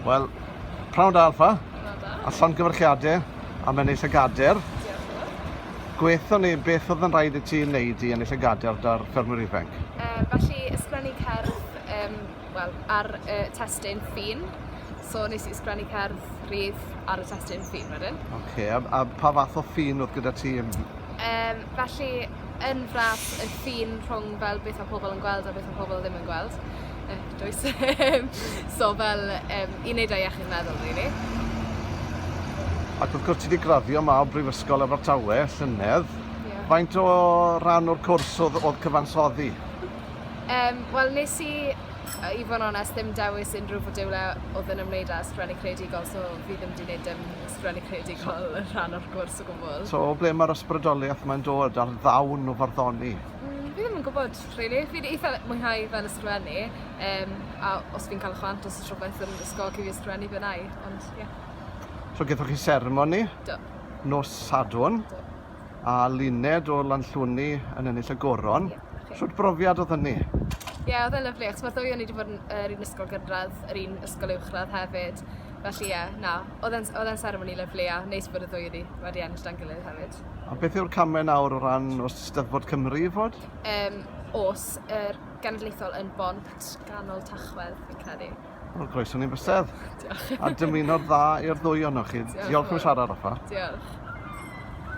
Wel, prawn da Alfa, a llongyfarchiadau am ennill y gader. Gweithio ni beth oedd yn rhaid i ti wneud i ennill y gader da'r ffermwyr ifanc? Uh, felly, ysgrifennu cerdd um, well, ar uh, testyn ffin. So nes i ysgrifennu cerdd rhydd ar y testyn ffin wedyn. Oce, okay, a, a pa fath o ffin oedd gyda ti? Um, felly, yn frap y ffin rhwng fel beth mae pobl yn gweld a beth mae pobl ddim yn gweld. E, does. so fel um, i wneud â iechyd meddwl, really. Ac wrth gwrs ti wedi graddio yma o Brifysgol Abertawe, llynedd. Yeah. Faint o ran o'r cwrs oedd, oedd cyfansoddi? Um, Wel, nes i, i fod yn onest, ddim dewis unrhyw fodiwle oedd yn ymwneud â sgrifennu creadigol, so fi ddim wedi gwneud dim sgrifennu creadigol yn rhan o'r gwrs. So, o ble mae'r ysbrydoliaeth mae'n dod ar ddawn o farddoni? Mm, fi ddim yn gwybod, really. Fi'n eitha mwynhau fel ysgrifennu, um, a os fi'n cael chwant os rhywbeth yn ysgol cyn fi ysgrifennu fe nai, ond ie. Yeah. So, gyda chi seremoni? Do. Nos Sadwn? Do. A luned o lanllwni yn ennill y goron? Ie, yeah, okay. Sut brofiad oedd hynny? Ie, yeah, oedd e'n lyflu, achos mae'r ddwy o'n i wedi bod yn yr un ysgol gynradd, yr un ysgol uwchradd hefyd. Felly ie, na, oedd e'n oedd e'n seremoni lyflu a neis bod y ddwy wedi, wedi ennill dan gilydd hefyd. A beth yw'r camau nawr o ran os Steddfod Cymru i fod? Um, os yr genedlaethol yn bont ganol tachwedd, fi'n credu. Wel, croeso ni'n bysedd. Diolch. A dymuno'r dda i'r ddwy ohonoch chi. Diolch, Diolch yn fawr. siarad, Rafa. Diolch.